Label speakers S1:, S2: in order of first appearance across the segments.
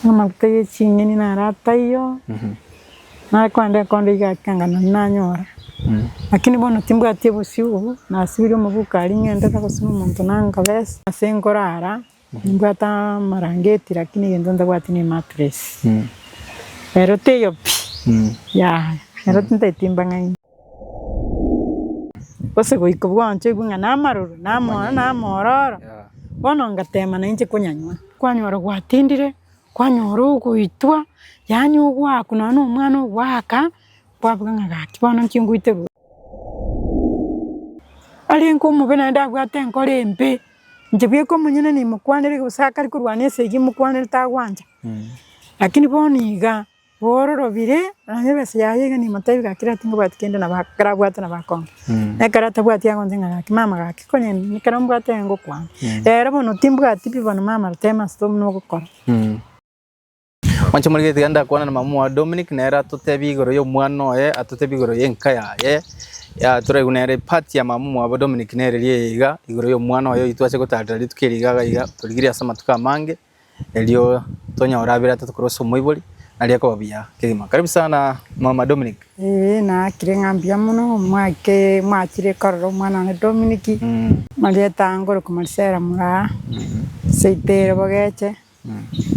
S1: Amaguta ye ching'eni naro ataiyo, nare kogenda enkondo iga ake anga nonye nanyora, lakini bono timbwati obosio obo, nasibirie omoguko aria ng'ende gose na omonto nangabesa, ase nkorara nimbwate amarangeti lakini egento ntabwati ne matress, ero teiyo pi, yaya ero tintaeti mbang'aini. Gose goika bwanchoigwe ng'a namaroro, namona namororo, bono ngatema nainche konyanywa. Kwanyora gwatindire, kwanyora ogoitwa, yaani ogoakwa nonya na omwana ogoaka, kwabuga ng'a gaki bono inche ngoite rwao. Arenge omobe naende abwate enkoro embe, inche bweka omonyene nimokwanere gose akare korwana esegi imokwanere tagwancha, lakini bono iga. Bororobire, onye ebesa yaye iga nimotebie gaki ekero tingobwati kende nabo ekero abwate nabo akonga. Ekero atabwati agoncha ng'a gaki mama gaki konye ekero mbwate iga ngokwana. Rero bono timbwati pi bono mama rotebe mase to buna ogokora. Mwanche
S2: more gete iga ndakwana na mama oye Dominic nere atotebie igoro ya omwana oye, atotebie igoro ya enka yaye, ya toraigwe nere part ya mama mwabo Dominic nere eri eye iga igoro ya omwana oye oyi twache gotarera rituko eri iga iga iga torigirie ase amatuko amange. Erio tonyore abere atato korwa ase omoibori, nari ekoba buya kegima. Karibu sana mama Dominic. Eeh nakire
S1: ng'a mbuya mono mwake mwachire korora omwana one Dominic Mm. marieta ango ore komorisera moraa seite ere bogeche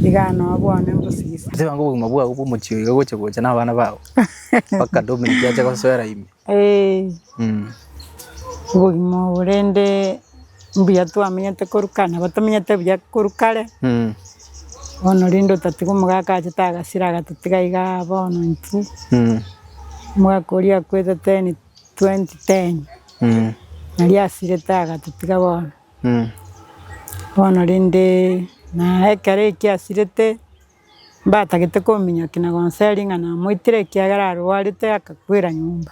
S1: iga noo bwane mbosigisi. Tebanga obogima bwao bwa
S2: omochie iga gocha gocha na abana bao mpaka Dominic ache gosoera ime.
S1: Obogima obo rende mbuya twamenyete korwa kare, nabo tomenyete buya korwa kare, bono rende otatiga omogaka achete agasira agatitiga iga bono intwe, omogaka oria akwetete in twenty ten, naria asirete agatitiga bono, bono rende naye ekero ekio asirete, mbatagete kominyokia na gonseri ng'a namoitire ekiagera arwarete akakwera nyomba.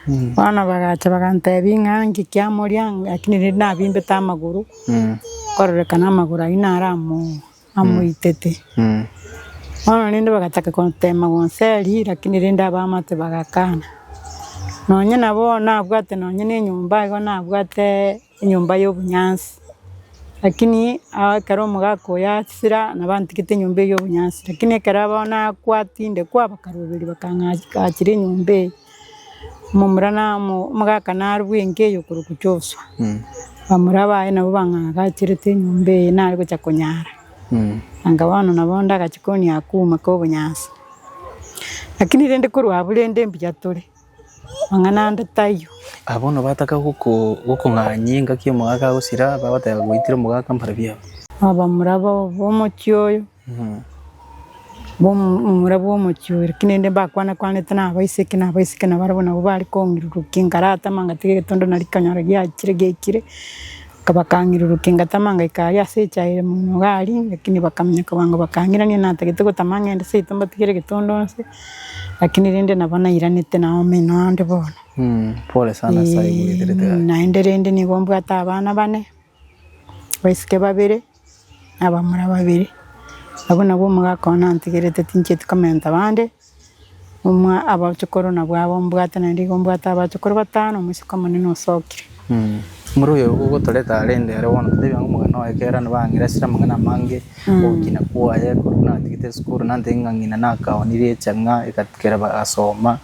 S1: Bono bagacha bagantebi ng'a nki kiamoria lakini rende nabimbete amagoro, nkarorekana amagoro ayio naro amo amoitete. Bono rende bagataka kotema gonseri lakini rende abamate bagakana. Nonye nabo nabwate nonye ne enyomba igo nabwate. Enyomba y'obonyansi, lakini ekero omogaka oye asira nabo antigete enyomba eye y'obonyansi, lakini ekero abao nakwa tinde kwa bakaroberia bakang'achera achire enyomba eye, omomura na omogaka narue enka eye okorokwa Josua, bamura baye nabo bang'agachirete enyomba eye nare gocha konyara, anga bono nabo onde agachia konia akuma k'obonyansi, lakini rende korwa abwo rende mbuya tore. mang'ana ande tayio. Aba bono bataka
S2: gokong'anyia engaki omogaka agosira, bagoteba, Gwaitire omogaka mbare biabo. Abamura
S1: b'omochie oyo, abamura b'omochie oyo, lakini rende mbakwane kwanete na abaiseke, na abaiseke nabo barabwo nabo bare kong'irurukia, nkaratama ngatiga egetundu nari kanyora giachire giaikire, bakang'irurukia ngatama ngaika aria ase echaye ere mono iga aria, lakini bakaminyeka bwango bakang'irania natagete gotama ng'ende seito mbatigere egetundu nse. Lakini rende nabo nairanete na omino onde bono. Mm, pole sana ase
S2: ayio mogenderete aye. Naende rende nigo
S1: mbwate abana bane, abaiseke babere, na abamura babere. Abwo nabwo omogaka one antegerete tinchieti komenta bande, omwa abachokoro nabwo abo mbwate naende igo mbwate abachokoro batano, omosike omonene osokire. Mura oyo
S2: gotoreta arende ere bono totebi ang'o omogena oye kera nabo ang'ira asire amang'ana amange ogokina kwaye korwa natigete esukuru nantege ng'a ng'ina nakaonirie echang'a ekera bagasoma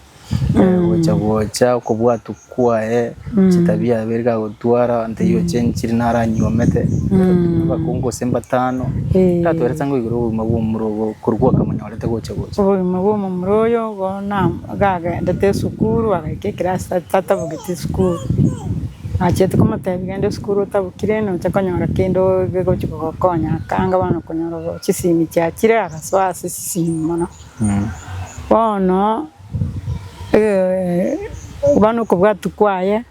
S2: gocha gocha okobwatu kwaye chitabia biaye biri kagotwara ntebi ochenchiri naranyuomete abakungu gose mbatano ntatware sa ngoigere obogima bwa omura obo korwa gwakamonyora. Obogima bw'omomura
S1: oyo bono gagendete esukuru, agaika eclass tatabogeti esukuru, nachiete komotebia genda esukuru otabokire nocha konyora kende ogochi kogokonya, akanga bono konyora chisimi chiachire agasoa ase chisimi mono. Bono bono okobwatwa kwaye.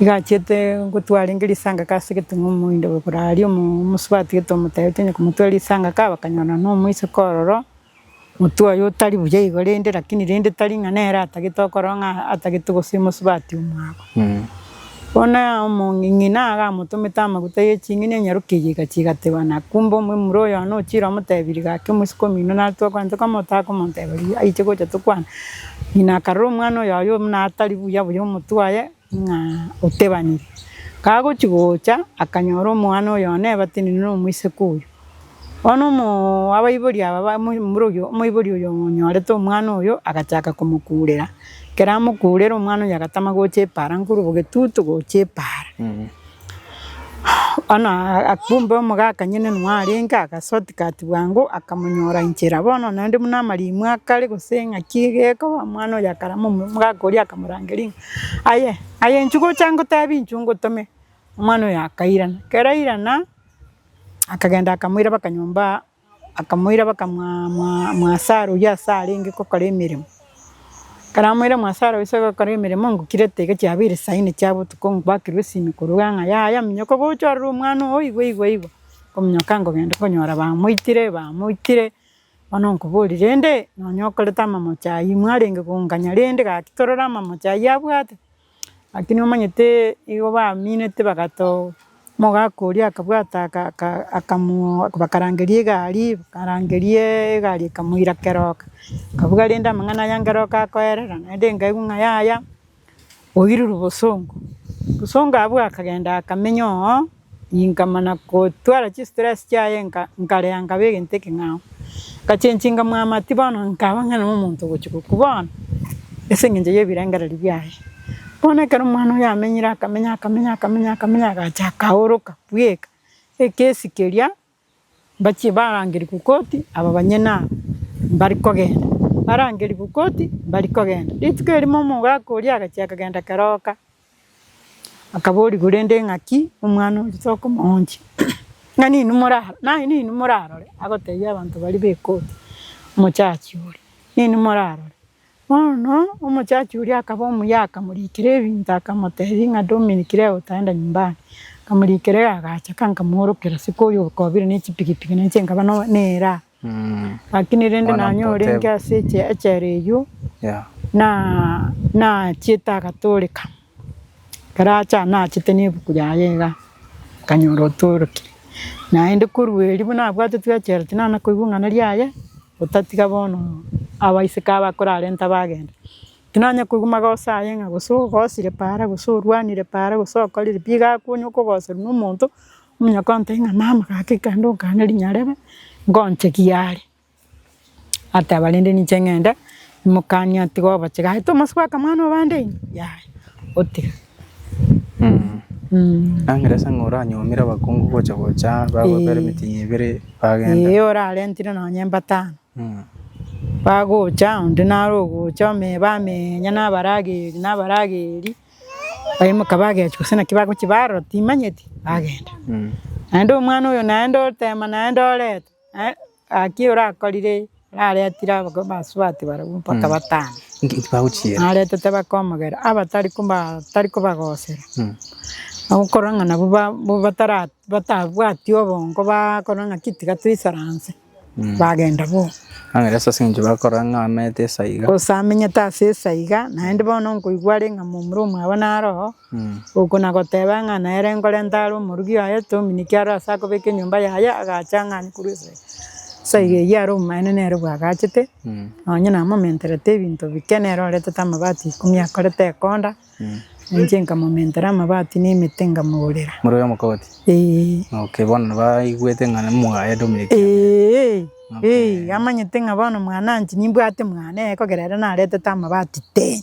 S1: Igachiete gotwara enge risanka ase egeteng'u omoindo ogokora aria omosubati gete omotebeti onye komotwera risanka ka bakanyora na omoiseke ororo, motwe oye otari buya igo rende lakini rende tari ng'a nere atagete okorora ng'a atagete gose omosubati omwabo. Bono omong'ina agamotomete amaguta ye ching'eni enyaroke eyio egachia egateba na kumbe omomura oyono ochire omotebirie gaki omoiseke omino nare twakwana tokamotaka komoteba riria aiche gocha tokwane. Ng'ina akarora omwana oyo aye buna atari buya buya omotwe aye, ng'a otebanire. Kagochia gocha, akanyora omwana oyo one ebate nini na omoiseke oyo. Bono omoo abaibori aba ba omo omorogi oyo omoibori oyo onyorete omwana oyo, agachaka komokurera. Ekero amokurera omwana oyo agatama gocha epaara nkorwa bogetutu gocha epaara. Bono kumbe omogaka nyene nigo arenge agasotika ati bwango akamonyora inchera. Bono naende buna amaremwa akare gose ng'aki gekoba omwana oye akarama omogaka oria akamorangeria ng'a aye aye inchuo gocha ngotebi inchuo ngotome, omwana oyo akairana. Ekero airana akagenda akamoira mpaka nyomba Akamoira bakamwasara oyio ase arenge gokora emeremo. Ekero amoire mwasara ase gokora emeremo ngokirete iga chiabeire saa inne chia botuko ngwakirwe esimi korwa iga ng'a yaya minyoka gocha ororo omwana oo igwe igwe igwe. Nkominyoka nkogenda konyora bamoitire bamoitire bono nkoboria rende nonye okorete amamocho ayio mwarenge konganya rende gaki torore amamocho ayio abwate. Lakini omanyete igo baminete bagatoa omogaka oria akabwata aka aka akamoa bakarangeria egari, bakarangeria egari ekamoira keroka, akabuga rende amang'ana aya nkeroka akoerera, naende nkaigwa ng'a yaya oirwe bosongo, bosongo abwo akagenda akamenya oo. Inkamana gotwara chistress chiaye nkarea nkaba egento ekeng'ao. Ngachenchi nkamwamatia bono nkaba ng'a nere omonto ogochia gokwa bono ase eng'encho y'ebirengererio biaye. Bono ekero omwana oyio amenyire akamenya akamenya akamenya akamenya agacha akaoroka bweka ekesi keria. Mbachie barangerigwe koti aba banyene aba mbare kogenda, barangerigwe koti mbare kogenda. Rituko erimo omogaka oria agachia akagenda keroka, akaborigwa rende ng'aki omwana oria tokomoonchia, ng'ani inwe moraro naye ninwe morarore, agotebia abanto baria be koti, omochachi oria, ninwe morarore, Bono omochachi oria akaba omuya, akamoriikera ebinto, akamoteebia ng'a Dominic, rega otaenda nyomba ande. Akamoriikera iga, agacha, akankamoorokera siko oyo okobire ne chipigipigi, na inche nkaba no- neraa. Lakini rende Bono nanyorenge mpotebu. ase eche- echela eyio, Yeah. na- nachiete agatooreka. Ekero aachire anachete nebuku yaye iga, akanyora otoroki, naende korwa erio buna abwate tweachereti nana koigwa ing'ana riaye, otatiga bono abaiseke aba akorarenta bagenda. Tinanya koigwa magoso aye ng'a gose ogosire paara gose orwanire paara gose okorire pi, iga akonya okogoserwa nomonto, omonyakontebia ng'a mama gaki kende okane rinyarebe, ngonche giare. Ateba rende ninche ng'ende, imokanie atige obochige, aye Tomaso bwaka mwana obo ande ime, yaya, otiga.
S2: Ang'ore ase ng'a oranyuomire abakungu gocha gocha bagotwara Ee. emetinyi ebere bagenda. Ee orarentire
S1: nonye mbatano, bagocha onde naro ogocha ome bamenya na abarageri na abarageri, baimoka bagechwa gose naki bagochia barora timanyeti, bagenda. Naende omwana oyo naende otema naende oretwa. Gaki orakorire raretire abagoma basubati barabwo mpaka batano,
S2: naretete bakomogera
S1: abatari batari kobagosera, okorora ng'a nabwo ba batara batabwati obongo bakorora ng'aki tiga toisaranse, bagenda boka. Ase eng'encho
S2: bakorora ng'a amenyete ase iga. Gose amenyete ase
S1: esa iga, naende bono nkoigwa are ng'a momura omwabo naro oo. Oko nagoteba ng'a nere nkorenta are omorugi oye, tominiki aro ase akobeka enyomba yaye, agacha ang'e anye korwa esegi. Ase iga eyio are omomaene nere bwagachete, nonye namomenterete ebinto bike, nere oretete amabati ikomi akorete ekonda, na inche nkamomentera amabati na emete nkamogorera. More oyo omokogoti?
S2: Eeh. Okay, bono nabo aigwete ng'a nimwaye Dominiki. Eeh, eeh, amanyete ng'a bono mwananchi nimbwate mwane, ekogera ere naretete amabati tee.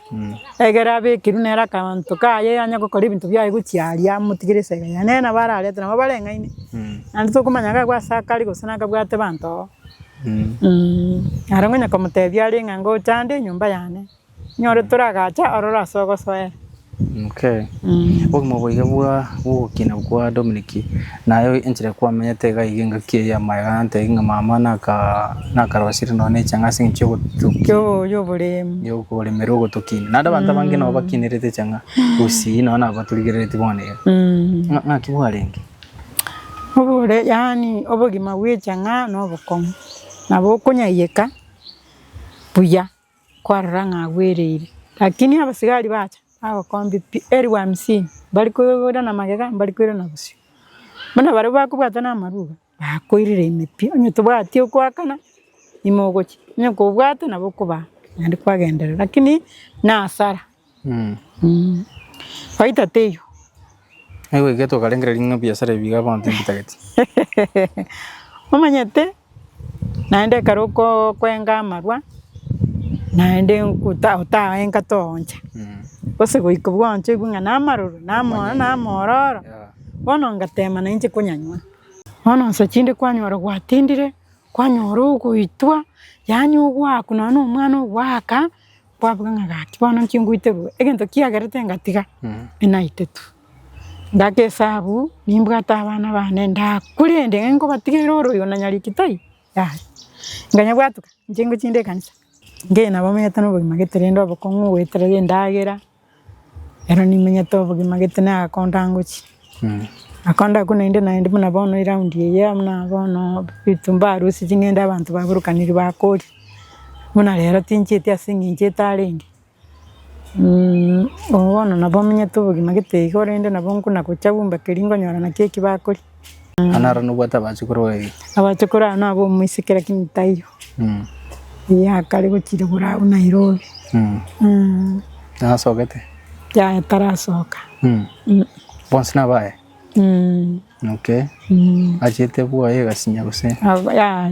S1: Egere abekirwe nere akamonto kaye anye gokora ebinto biaye gochia aria amotigere esege yaye, nere nabo ararete nabo bareng'aine, naende tokomanya ng'a nigo ase akare gose nakabwate abanto oo. Naro ngonya komotebia are ng'a ngochande enyomba yane, nyore toragacha ororo ase ogosoera.
S2: Obogima obo iga bwa bw'ogokina kwa Dominic. Naye enchera kwamenyete iga iga engaki eye y'amaega nantebie ng'a mama nakarosirie nonya na echang'aa ase eng'encho y'obotuki,
S1: y'okoremera ogotokinia.
S2: Naende abanto abange nabo bakinerete echang'aa gose nonya nabo baturigereretie bono iga. Ng'aki bwarenge?
S1: Yaani obogima bw'echang'aa nobokong'u, nabo okonyayeka buya. kwarora ng'a agwereire. Lakini abasigari bacha bagokombia pi elfu hamsini, mbari koira na magega, mbari koira na bosio. Buna baria bakobwata na amarwa, bakoirire ime pi, onye tobwati okoakana, ime ogochia, onye kobwate nabo okobaa, naende kwagenderera, lakini na hasara. Faida teiyo.
S2: Naigwegete okarengera ring'ana ebiasara ebi iga abanto mbitagete. Omanyete
S1: naende ekero okoo kwenga amarwa naende nkuta otaha enka tooncha. Gose goika bwancha oigwe ng'a namaroro namoa namororo bono ngatema nainche konyanywa. Bono nsa chinde kwanyora gwatindire, kwanyora ogoitwa yaani ogwakwa nonye na omwana ogwaka. Kwabuga ng'a gati bono inche ngoiterwe egento kiagerete ngatiga enaite tu. Ngaka esabu nimbwate abana bane ndakure ende ng'ai nkobatigera ore oyo nanyari ekitaai yaya. Nkanyabwatwa inche ngochia inde ekanisa, ng'ina bamenyete nobogima gete rende obokong'u goeterera endagera. Ero nimenyete obogima gete nagakonto angochie. Nakonto ako naende naende buna bono eround eye buna bono ebitumba arusie ching'ende abanto baburokaniri bakoria. Buna rero tinchieti ase eng'encho etarenge. Obo bono nabo menyete obogima gete iga korende nabo nkona gocha bumba keria nkonyora naki eki bakoria. Nonya aro
S2: nobwate abachukuru babere. Abachukuru abo nabo
S1: omoiseke lakini taiyo. Iga akare gochirigura agwo Nairobi.
S2: Nasogete? Yaya
S1: tarasoka.
S2: Bonsi nabaye? Okay. Achete bwoye egasinya gose? Yaya.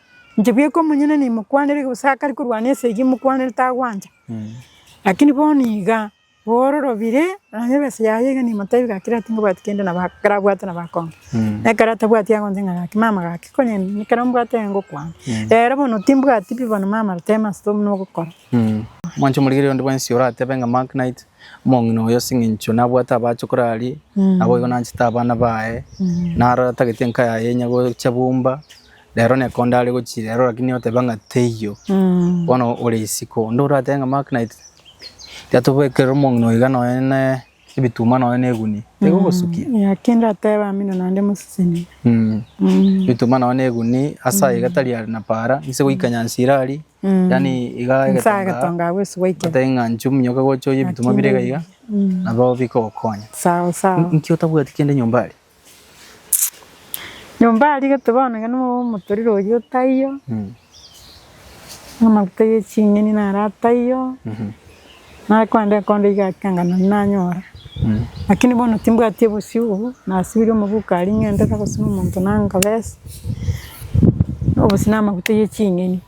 S1: Inche bweka omonyene nimokwanere gose akare korwana esegi imokwanere tagwancha, lakini bono igaa, bororobire nonye ebesa yaye iga nimotebie gaki rero tingobwati kende nabo ekero abwate nabo akonye, nekero atabwati agoncha ng'a gaki mama gaki konye nini ekero mbwate iga ngokwana, rero bono timbwati pi bono mama rotema ase tobi nogokora. Mwanche omorigereria
S2: onde bwensi oratebe ng'a Mark Knight, omong'ina oyo ase eng'encho nabwate abache ekero aria, naboigo nanchete abana baye, narore atagete enka yaye enya gocha bumba. Rero neko ndare gochia rero lakini oteba ng'a teiyo. Bono ore isiko. Onde oratebe ng'a Mark Knight tiatobekerera omong'ina oiga noe ne ebituma noe ne egunia. Tigo ogosukia. Yeah, ki ndateba
S1: mino naende mosesenibe. Mm. Mm.
S2: Bituma noe ne egunia ase aiga tari are na para. Inse goika nyansi irari. Mm. Yani iga Nsa egetonga. agetonga
S1: agwo ase gwaikera. Otebe ng'a inche ominyoke gocha
S2: oye ebituma bire iga iga. Mm. Nabo bikogokonya. Sawa sawa. Nki
S1: otabwati
S2: kende nyomba aria? Nyomba
S1: arigete bono iga nigo omotorero oyio otaiyo, amaguta ye ching'eni naro ataiyo, nare kogenda ekondo iga ake anga nonye nanyora. Lakini bono timbwati obosio obo, nasibirie omoguka aria ng'entete gose na omonto nanga besa, obosio na amaguta ye ching'eni.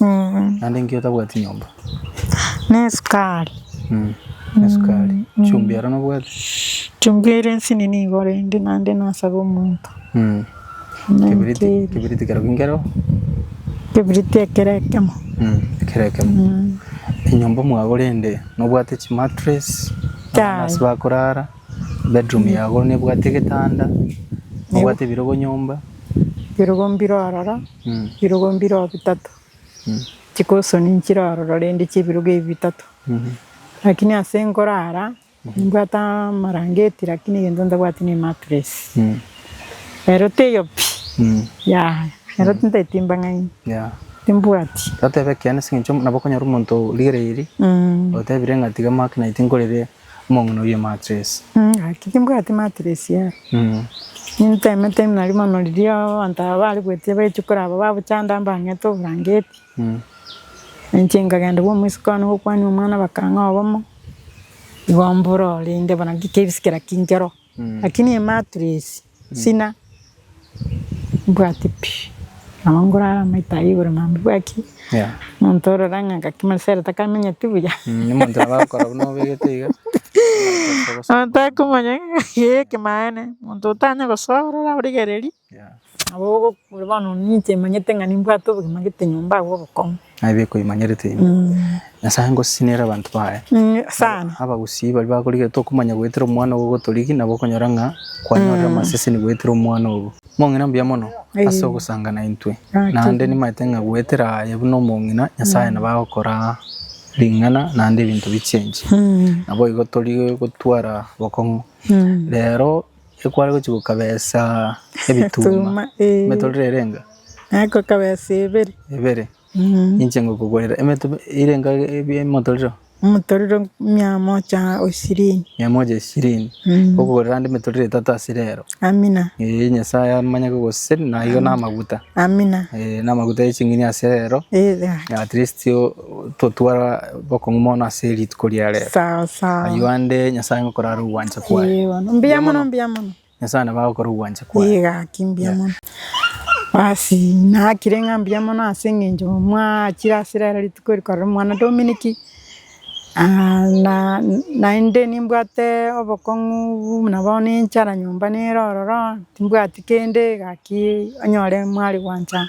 S2: Naende inki otabwati nyomba?
S1: Nesukari.
S2: Nesukari. Chumbi aro nobwati? Chumbi ere
S1: nsini nigo rende naende nasabe omonto. Kebiriti,
S2: kebiriti kero kinkero? Kebiriti
S1: ekero ekemo. Ekero ekemo.
S2: Enyomba mwagora ende nobwate chimattress? Abana ase bakorara? Bedroom yago nebwate egetanda? Nobwate ebirogo nyomba? Ebirogo mbire
S1: ororo. Chirugo mbiroo bitato chikosoni nchire ororo rende chi'ebirugo ebi bitato. Lakini ase nkorara nimbwate amarangeti lakini egento ntabwati ne mattress. Ero teiyo pi yaya ero tinta etimba ng'aini
S2: timbwati.
S1: Totebe ekiana ase
S2: eng'encho nabo okonyora omonto origereiri otebire ng'a tiga maki naye tinkorere. Omong'ina oyio matiresi. Gaki timbwati
S1: matiresi aro. Nintemete nari mono riria abanto aba bare goetia bagechia koraba babochanda mbang'ete oborangeti. Nainche nkagenda bwa omosiko one gokwania omwana bakang'aa obomo, igo mbororire inde buna nki kebisa kera kinchero. Lakini eye matiresi. Sina mbwati pi nabo ngorara amaito ayio igoro nabo mbwati omonto ororo ang'e ngaki Marcelo takamenyeti buya. Omonto nabo agokora
S2: buna obegete iga. Omonto akomanya
S1: ng'aki ekemanye omonto otanya gosoa ororo origereri nabo ogokora bono ninche manyete ng'a nimbwate obogima ngete nyomba agwo obokong'u. Aye bekoimanyerete
S2: ime. Nyasae ngosinera abanto baye. Sana.
S1: Abagusii baria
S2: bakorigereria tokomanya goetera omwana ogo gotorigi nabo okonyora ng'a kwanyorire amaseseni goetera omwana ogo. Mong'ina mbuya mono ase ogosanga naintwe. Naende nimaete ng'a goetera aye buna omong'ina Nyasae nabo agokora ring'ana naende ebinto bi'chengi. Naboigo tori gotwara bokong'u. Rero. ekware gochia gokabesa ebituma emetororo ere enga? Ekokabesa
S1: ebere. Ebere?
S2: Mm. Inche ngokogorera emeto ere enga ebie emotorero? Omotorero
S1: mia mocha ishirini. Mia moja ishirini. Mm. Ngokogorera ande
S2: emetorero etato ase rero. Amina. Ee,
S1: Nyasaye amanye
S2: kogoseseni naigo na amaguta. Amina. Ee,
S1: na amaguta ya ching'ini
S2: ase rero. Ee, gaki. At least o. Totwara bokong'u mono ase rituko ria rero. Sawa sawa. Ayio ande
S1: Nyasaye
S2: ngokorara ogwancha kwaye. Ee, bono. Mbuya mono, mbuya
S1: mono. Nyasaye nabo
S2: agokora ogwancha kwaye. Ee, gaki, mbuya mono.
S1: Basi, nakire ng'a mbuya mono ase eng'encho mwachire ase rero rituko rikorera omwana Dominic, ah na naende nimbwate obokong'u buna bono enchara nyomba nere ororo, timbwati. Kende gaki onyore mwari gwancha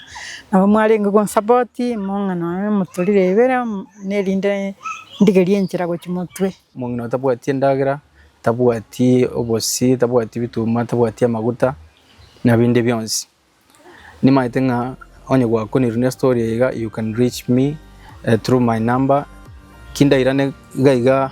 S1: nabo mwarenge konsapoti mong'ina nonya moturire ibere erinde ndigerie enchera gochia motwe. Omong'ina otabwati
S2: endagera, tabwati obosie, tabwati ebituma, tabwati amaguta na binde bionsi. Nimaete ng'a onye gwakoniru ne story eye iga you can reach me through my number ki ndairane iga iga.